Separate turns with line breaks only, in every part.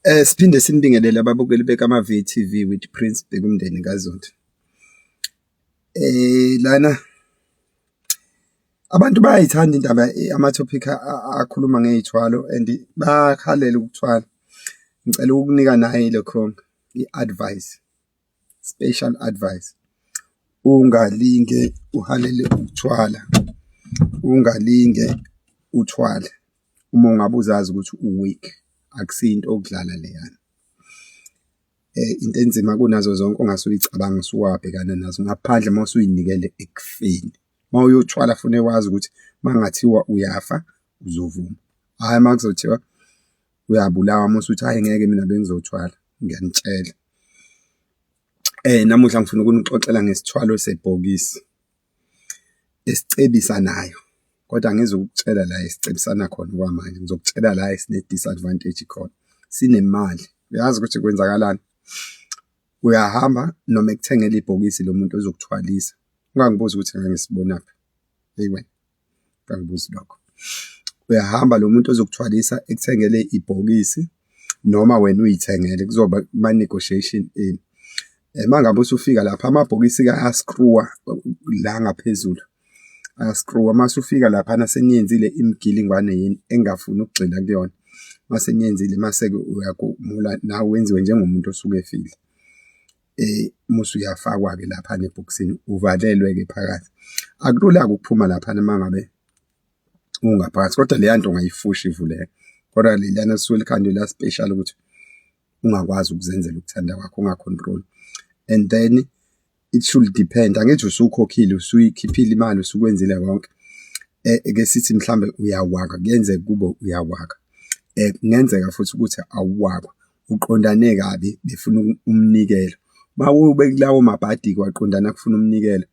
Eh siphinde sinibingelele ababukeli beKama VTV with Prince Bekumndeni kaZondi. Eh lana abantu bayayithanda indaba eh, ama topic akhuluma ngezithwalo and bakhalela ukuthwala. Ngicela ukukunika naye lokho i-advice. Special advice. Ungalinge uhalele ukuthwala. Ungalinge uthwale uma ungabe uzazi ukuthi u-weak akusinto okudlala leyana. Eh, into enzima kunazo zonke ongase uyicabanga usuwabhekana nazo ngaphandle uma usuyinikele ekufeni. Uma uyothwala fune wazi ukuthi uma kungathiwa uyafa uzovuma, hhayi uma kuzothiwa uyabulawa musa uthi hayi ngeke mina bengizothwala ngiyanitshela eh namuhla ngifuna ukunixoxela ngesithwalo sebhokisi esicebisa nayo kodwa ngizokutshela la esicebisana khona kwamanje ngizokutshela la esine disadvantage khona sinemali uyazi ukuthi kwenzakalani uyahamba noma ekuthengela ibhokisi lomuntu ozokuthwalisa ungangibuza ukuthi ngangisibonaphi hey wena kangibuzi lokho uyahamba lo muntu ozokuthwalisa ekuthengele ibhokisi noma wena uyithengele kuzoba ma negotiation ini uma eh, ngabe usufika lapha amabhokisi ka askruwa la ngaphezulu askruwa uma usufika lapha naseniyenzile imigilingwane yini engafuni ukugxila kuyona mase niyenzile mase-ke uyakumula nawe wenziwe njengomuntu osuke efile eh musu uyafakwa ke lapha nebhoksini uvalelwe ke phakathi akulula ukuphuma lapha mangabe ungaphakathi kodwa leya nto ungayifushi ivuleke kodwa lelana suke likhandwe la special ukuthi ungakwazi ukuzenzela ukuthanda kwakho ungacontrol and then it should depend angithi usukhokhile usuyikhiphile imali usukwenzile konke eh, eke sithi mhlambe uyawaka kuyenzeka kube uyawaka eh, kungenzeka futhi ukuthi awuwaka uqondane kabi befuna umnikelo mawube kulawo mabhadi kwaqondana kufuna umnikelo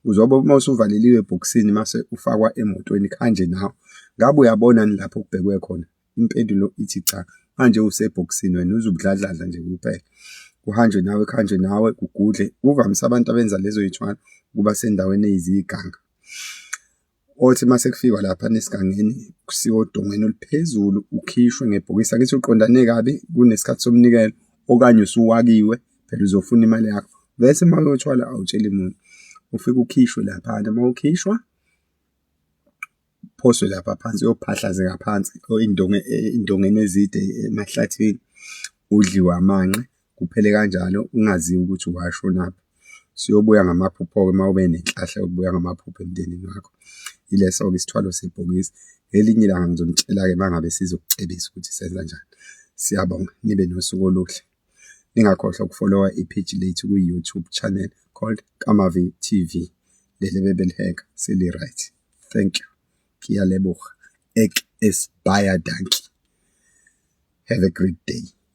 uzobe uma usuvaleliwe ebhokisini mase ufakwa emotweni khanje nawe ngabe uyabona ni lapho kubhekwe khona impendulo ithi cha manje usebhokisini wena uzubudladladla nje kuphela kuhanjwe nawe kuhanjwe nawe kugudle kuvamise abantu abenza lezo yithwalo kuba sendaweni eyiziganga othi uma sekufikwa lapha nesigangeni kusiwa odongweni oluphezulu ukhishwe ngebhokisi angithi uqondane kabi kunesikhathi somnikelo okanye usuwakiwe phela uzofuna imali yakho bese uma uyothwala awutsheli muntu ufike ukhishwe lapha uma ukhishwa phoswe lapha phansi uyophahlazeka phansi indonge indongeni ezide emahlathini udliwa amanqe kuphele kanjalo ungaziwa ukuthi washonaphi siyobuya ngamaphupho-ke uma ube nenhlahla yokubuya ngamaphupho emndenini wakho ileso-ke isithwalo sebhokisi ngelinye ilanga ngizonitshela-ke uma ngabe sizokucebisa ukuthi senza njani siyabonga nibe nosuku oluhle ningakhohlwa ukufolowa ipheji lethu kwi-youtube channel called kamavi tv leli bebeliheka seli-right thank you ngiyalebuha ek esibaya danki have a great day